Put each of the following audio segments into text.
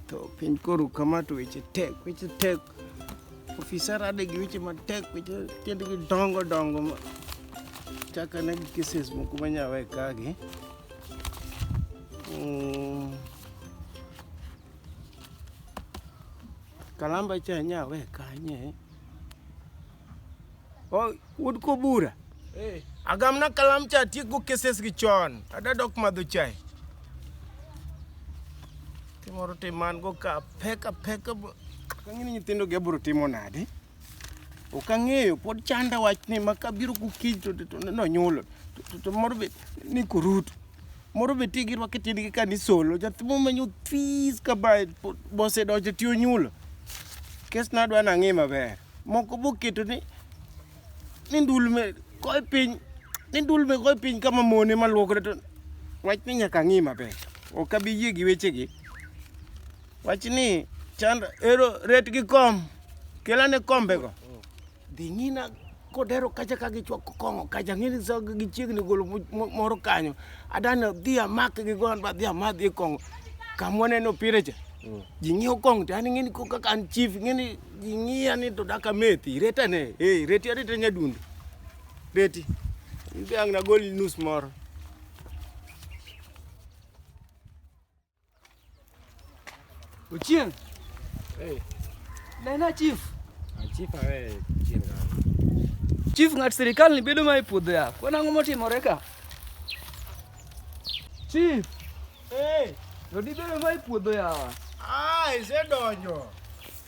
To piny koru kama to weche tek, weche tek. Ofisa rade gi weche matek, weche tiendgi dongo dongo ma chaka ne gi cases moko manyawe kagi. Mm. Kalamba cha nyawe kanye. Oh, wuod Kobura. Hey. Eh. Agamna kalam cha tiek go cases gi chon. Ada dok madho chai. Timoro timan go ka peka peka. Kangini nyithindo gi abro timo nadi? Ok ang'eyo pod chanda wachni ma kabiro kukiny to nonyulo to moro be ni kurutu. moro be tigi rwake tiendgi ka ni solo nyathi momenyo this ka ba bosedonjo ti onyulo kes nadwa nang'i maber moko boketo ni ni ndulme koe piny ni ndulme koe piny kama mone maluokre to wach ni nyaka ang'i maber ok abi yie gi wechegi wach ni chand ero ret gi kom kelane kombego dhi nyina kodero kacha ka gichwako kong'o kacha ng'eni sa gichiegni golo mo- mo- moro kanyo adani dhi amak gi gon ba dhi amadhi e kong'o kamwaneno pire cha ji ng'iyo kong'o to an ng'eni ko kaka an chief ng'eni ji ng'iya ni to daka methi retane e reti areta nyadundo reti in be ang' nagol nus moro Ochieng. Hey. Nena chief. Ah, chief awe chief. Chief ng'at sirikal ni bedo ma e puodho ya. Kwana ang'o motimore ka? Chief. Hey. Jodi bedo ma e puodho yawa. Ah, isedonjo.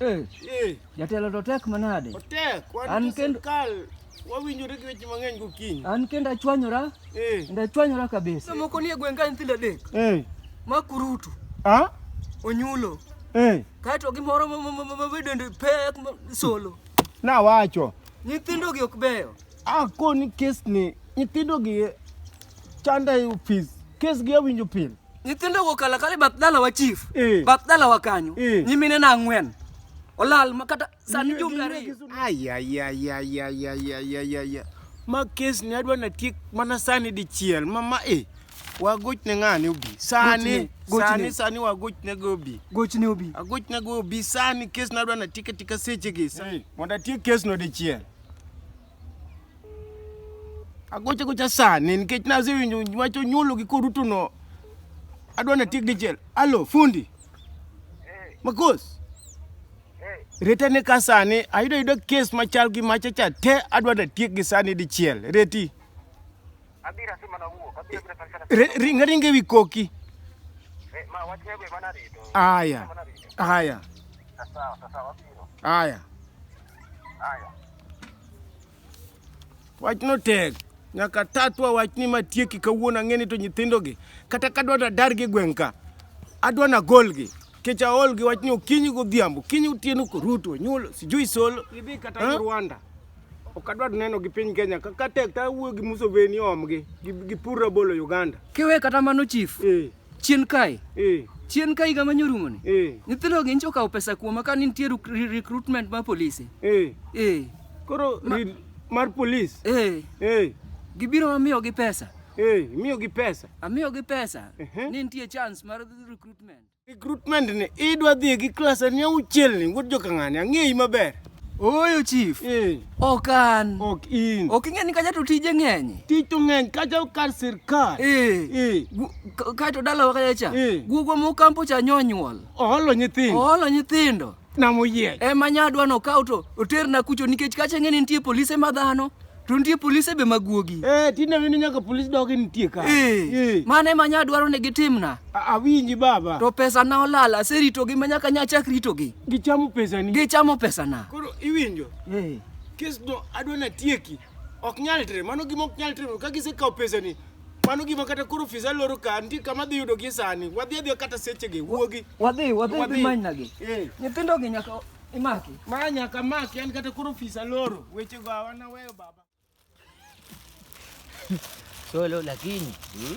Eh. Eh. Jatelo to tek manade? Otek, wan sirkal wawinjore gi weche mang'eny gokinyi. An kendo achwanyora. Eh. Kendo achwanyora kabisa. Sama moko nie gweng' ka nyithindo adek. Eh. Ma kurutu. Ah? Onyulo. Eh. Kato gimoro mabedende pek solo. Nawacho. Nyithindogi ok beyo. Ah, koni kesni nyithindogi chanda e ofis. Kesgi awinjo pile. nyithindo go kala kala bath dala wa chief eh. bath dala wa kanyo eh. nyimine na ang'wen olal makata sani jumbe ariyo ayayayayayayayaya ma kes ni adwa natiek mana sani dichiel mama e eh. wagoch ne ng'ani obi sani sani sani wagoch ne go obi goch ne obi agoch ne go obi sani kes ni adwa natiek atika sechegi mondo atiek kes no dichiel Agocho gocha sani nikech nasewinjo wach onyuolo gi koruto no. Adwa na tiek dichiel. Alo, fundi. Makos. Reta ne ka sani ayudo ayudo kes machal gi macha cha te adwa na tiek gi sani dichiel. Reti. Abira si mana wuok, abira bira kan kana. Re- Ringa ringa ewi koki. Eh, Ma wach nego mana rito. Aya. Mana rito. Aya. Sawa, sawa, abiro. Aya. Haya. Wachno tek. Nyaka tatwa wachni matieki kawuono ang'eni to nyithindogi. Kata kadwa to adargi e gweng' ka. Adwa na golgi. Kech aolgi wachni okinyi godhiambo. Kinyi otieno koruto, nyulo, sijui solo. Idhi kata Eh? Rwanda. Ok adwar neno gi piny Kenya ka ka tek to awuo gi Museveni omgi gi, gi pur rabolo Uganda. Kiwe kata mano chief, Eh, chien kae, eh, chien kae higa manyorumo ni. eh, Nyithindo gi nyicha okawo pesa kuoma ka nitie ruk- re- recruitment mar polise. eh. Eh, Koro rid mar police. eh, Eh, gibiro amiyo gi pesa. eh, miyo gi pesa. Amiyo gi pesa, Ehe. ni nitie chance mar recruitment. Recruitment ni idwa dhi gi class ni auchiel ni wuod joka ng'ani ang'eyi maber. Ooyo chief. Eh. Ok an. Ok in. Ok ing'e ni kacha to tije ng'eny. Tich to ng'eny kacha kar sirkal. Eh. Eh. Kae to dalawa kacha cha. Eh. Guogwa mokampo cha nyonyuol. Oholo nyithindo. Oholo nyithindo. na moyiech. E ma nyadwa no kaw to oterna kucho nikech kacha ng'e ni nitie polise ma dhano to nitie polise be maguogi. Eh, tinde wini nyaka polis dogi nitie ka. Eh, Eh. mano ema nyadwaro ni gitimna. A- Awinji baba. To pesa na olal aseritogi ma nyaka nyachak ritogi. Gichamo pesani. Gichamo pesa na. Koro iwinjo? Eh. Kes no adwa na tieki. Ok nyal tre, mano gima ok nyal tre. Ka gisekawo pesani, Mano gima kata koro ofisa loro ka nitie kama dhi yudo gi sani. Wadhi adhi kata seche gi wuogi. Wadhi wadhi wadhi dhi manyna gi. Eh. Nyithindo gi nyaka imaki. Ma nyaka maki an kata koro ofisa loro. Weche go hawana weyo baba. Solo lakini. Hmm?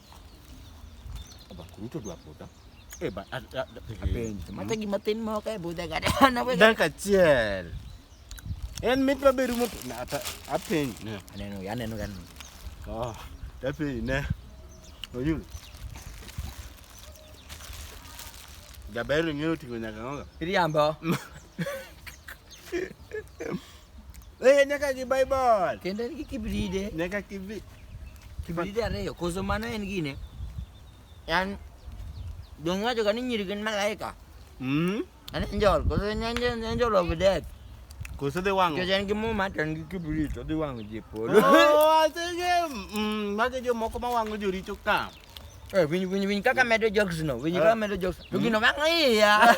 Bakuruto dwa buda. Eh, ba- a- a- a- apenji. Mata gima tin moko e budhe ga na we Dakika achiel. En mit maber rumo to- na, ata- apenji ne. aneno ya aneno ga ni. Oh, apenji ne. Oyulo. Jaber ng'eyo ting'o nyaka ng'oga. Iriambo. Eh, nyaka gi Bible. Kendo en gi kibride. Nyaka kibi. Kibride ariyo. Koso mano en gine. Yan dong wacho ka ni nyiri gin malaika. Mm. An angel. Koso en angel, angel of death. Koso dhi wang'o. Kech en gi muma to en gi kibrit odhi wang'o ji e polo. Oh, asege. Mm, mage jomoko ma wang'o joricho ka. Eh, winyi winyi winyi kaka medo jokes no. Winyi kaka medo jokes. To gino ma ng'iya.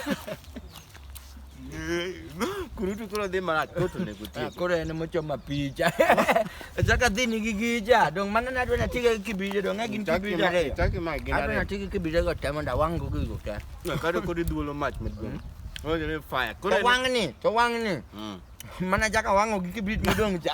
Kurutu koro dhi marach koro to nego tiyo. Koro en mochoma picha. Achaka dhi nigi gija. Dong mano nadwa na tiga gi kibija dong agin kibija ariyo. Chaki ma gin Adwa na ariyo. tiga gi kibija go temo da wang' go gigo te. Kado kodi dhuolo mach maduong'. Koro jere fire. To Koro en- wang' ni, to wang' ni. Mm. Mana chaka wang'o gi kibrit modong' cha.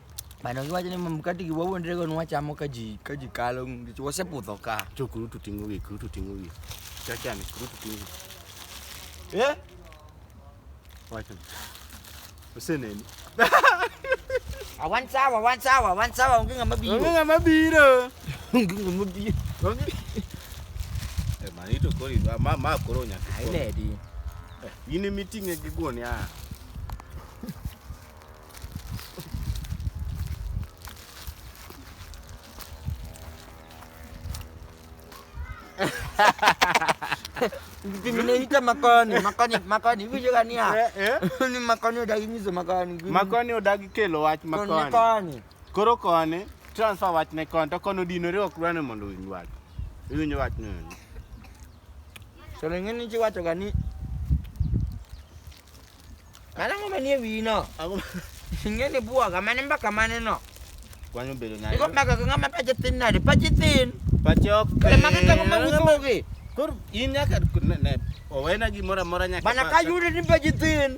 Mano giwacho ni mkati gi wawuon rego nwa chamo ka ji ka ji kalo ngich wasepudho ka. To kuru to tingo gi, kuru to tingo gi. Chacha ni kuru to tingo gi. Eh? Wacha. Useneni. Awan sawa, awan sawa, awan sawa onge ng'ama biro. Onge ng'ama biro. Onge ng'ama biro. Onge. Eh, mani to kori, ma ma koro nyaka. Ai ledi. Eh, in imiting'e gi guon ya. Vinaita makoni, makoni, makoni. Hivi gani ya? Eh, eh. Ni makoni odagi nyiso makoni. Makoni odagi kelo wach makoni. Koni koni. Koro koni transfer wach ne koni to kono dino riwo kurane mondo winj wach. Winj wach ne. So lengeni chi wacho gani. Mano ang'o manie wiyi no? Ang'o Ing'e ni bwoga mane mbaka mane no? kwani obedo nade? Iko mbaka gi ng'ama pache tin nade? Pache tin. Pache ok Kare mage tango ma usogi. Koro in nyaka ne- ne, owena gimoro amora nyaka Bana ka pasa. yudi ni pache tin.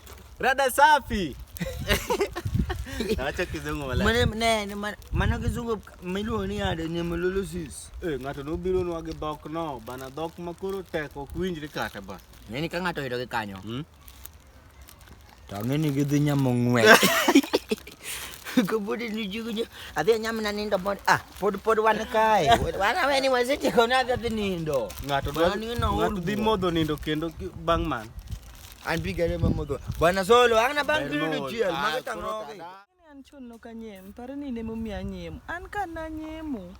Rada safi. Acha kizungu wala. Mane ne ne man- mano kizungu miluongo ni ade ni melolosis. Eh, ng'ato nobiro nwage dhok no, bana dhok ma koro tek ok winjre kata ba. Ng'eni ka ng'ato oyudo gi kanyo. Hmm? To ng'eni gidhi nyamo ng'we. Kabudi ni jugu nyo. Adhi anyam na nindo pod ah pod pod wan kae. Wan aweni wasechiko na adhi nindo. Ng'ato Mano dwa- ni no ng'ato old dhi boy. modho nindo kendo ki- bang' man. Anpiga ile mama do. Bwana Zolo ana bang kilu chiel ah, maga tango. An chon no kanyem, pare ni ne mumi anyem. An ka na nyemu.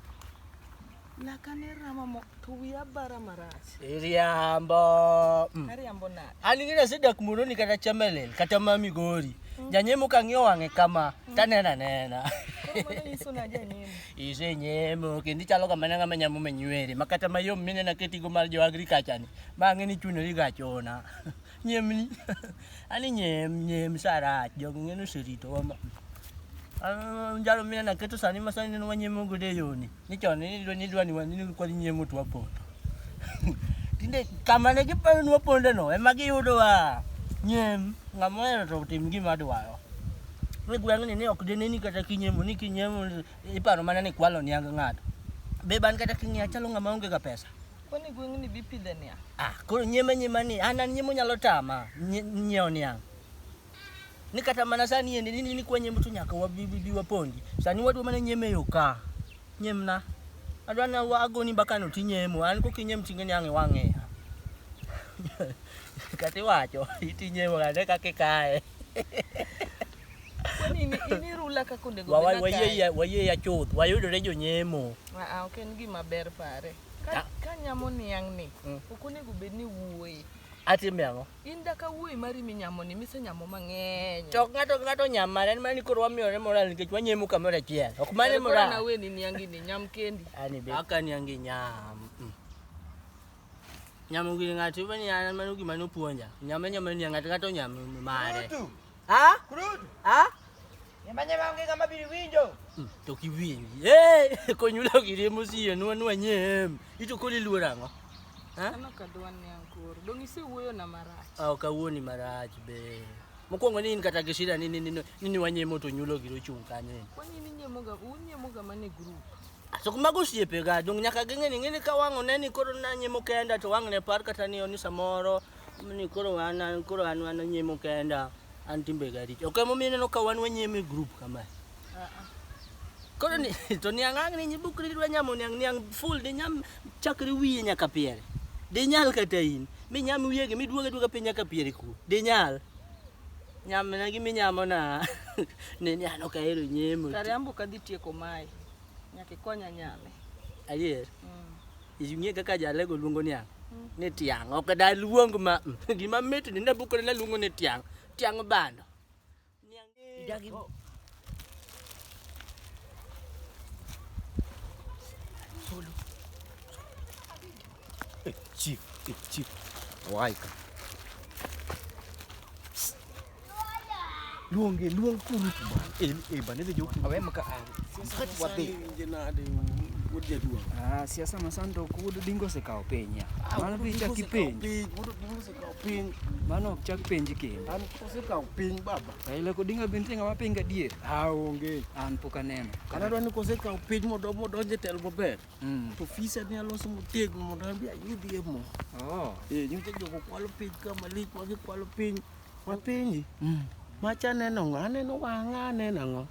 La kane rama mo to wi abara marach. Iriambo. Mm. Ariambo na. An ngina se dak muno ni kata chamelel, kata mami gori. Mm. Janyemu ka ng'yo wang'e kama, mm. tanena nena. Ise nyemo, kendi chalo kama nanga manyamu menywere. Makata mayom minena ketigo mar jo agriculture ni. ma ng'e ni chuno ni gachona nyemni ani nyem nyem sarach jogo ng'e ni oseritowa ma Ah, jalo mine naketo sani ma sani neno wanyemo godo e yoni ni chon ni dwa- ni dwa ni wan- ni kwadhi nyemo to wapondo tinde kama ne giparo ni waponde no ema giyudowa nyem ng'ama ohero to tim gima dwaro ni gweng'ni ni ok dineni kata kinyemo ni kinyemo iparo mana ni kwalo niang ng'ato be ban kata king'iya chalo ng'ama onge ga pesa Kwani gweng' ni bipidhe niya? Ah, koro nyema nyema ni an an nyemo nyalo tama nyiewo niang'. Ni kata mana sani yende nini ni kwa nyemo to nyaka wabibi wapondi. Sani wadwa mana nyeme yo ka. Nyemna. Adwa na wagoni mbaka no tinyemo. An kok inyem tinge niang' iwang'e. Kati wacho itinyemo kata kake kae. wayie ya chuth wayudore jonyemo ah, ok en gima ber pare ah. ka nyamo niang' ni mm. ok onego bed ni wuoye atime ang'o in da ka wuoyi mari minyamo ni misenyamo mang'eny to ng'ato ng'ato nyamare en mana ni koro wamiyore moral nikech wanyemo kamoro achiel ok mane moral na weni niangi ni nyam kendi ani be aka niangi nyam mm. Nyamo gi ng'ato iwe ni an mano gima nopuonja. Nyame nyame ni ng'ato kata onyame mare. Kurutu. Ha? Kurutu. Ha? Nyama nyama onge kama biri winjo. Hmm, to kiwinji. Eh, konyulo gire musiye nwa nwa nyem. Ito koli luora ngo. Ha? Ano kadwan ni ankoro. Dong ise wuoyo na marach. Ah, okawuoni marach be. Mokwongo ni in kata gi shida ni ni ni ni wanyemo to nyulo giro chung' kanyo. Kwani ni nyemoga, unyemoga mane group. So kuma gosiepe ga dong nyaka ging'e ni ng'eni ka wang' one ni koro nanyimo kenda to wang' ne par kata ni oni samoro ni koro an an- koro an an anyimo kenda an timbe ga richo. Ok emomiyo ineno ka wan wanyimo e group kama. Koro ni to niang' ang' ni nyibukri dwa nyamo niang' niang' full di nyam chakre wiye nyaka piere. Di nyal kata in. Mi nyam wiye gi miduoge duoga piny nyaka piere ku. Di nyal. Nyamna gi minyamo na. Ne ni ano ka ero nyemo. Kare ambo ka dhi tieko mai. Nyaki konya nyame. Ayer. Mm. Inyie kaka jalego luongo ni ang. Mm. Ni tiang. Ok da luong ma. Gima mit ni ne bukore na luongo ni tiang. Tiang bando. Nyang. Idagi. Chief, chief, waika. Luong e luong kuru bana. E e bana de joku. Awe maka. Mkati wa be. Ah, siasa masando kudu dingo se kao penya. Mana picha kipenya. Kaw piny. Mano ok chak penji kendo. An kosekaw piny baba. Raila Odinga be nitie ng'ama piny gadier? Ah, onge. An pok aneno. Kata dwa ni kosekaw piny modo modonje tel maber. Mm. To fisa ni aloso motegno mondo an be ayudie mo. Oh. Eh, nyote jogo kwalo piny ka malik ma gikwalo piny. Ma penji. Mm. Macha neno ng'a? Aneno wang'a aneno ang'o?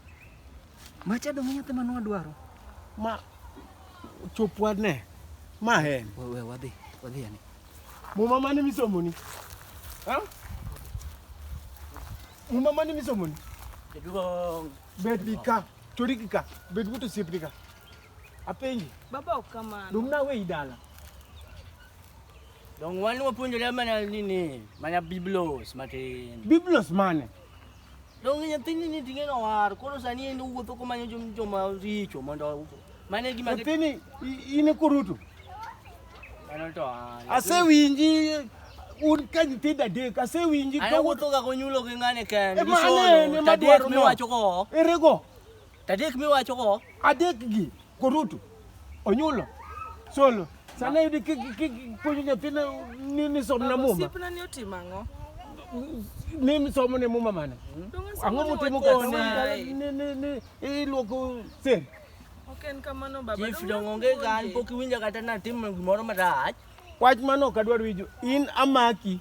Macha dong' nyathi manwa dwaro. Ma chopwa ne. Ma en. We, we wadhi. Wadhi yani. Muma mane misomoni? Ha? Muma mane misomoni? Jaduong'. Bed gi ka, chori gi ka, bed but osiepni ka. Apenji. Baba ok kamano. Dong' nawe i dala. Dong' wan wapuonjore mana nini, mana biblos matin. Biblos mane? Dong nyathini ni ting'e no war, koro sani en owuotho komanyo jom- joma richo mondo mano e gima gi- Nyathini i- in e kurutu. Mano to ah, Asewinji un ka nyithindo adek, asewinji An ka wuotho ga konyulo gi ng'ane kende. Ema Gisoyo, anene ma tadek dwaro no. miwacho go. Erego. Tadek miwacho go. Adek gi koruto onyulo solo sana yudi puonjo nyathina ni ni som na muma. Sipna ni otimo ang'o? Ni somo ne muma mane? Ang'o mutimo ka ni ni ni iluoko sen. Ok en kamano baba. Chief dongonge gan pok iwinja kata natim gimoro marach. Wach mano ok adwar winjo. In amaki.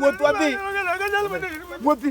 wuoth wadhi wuothi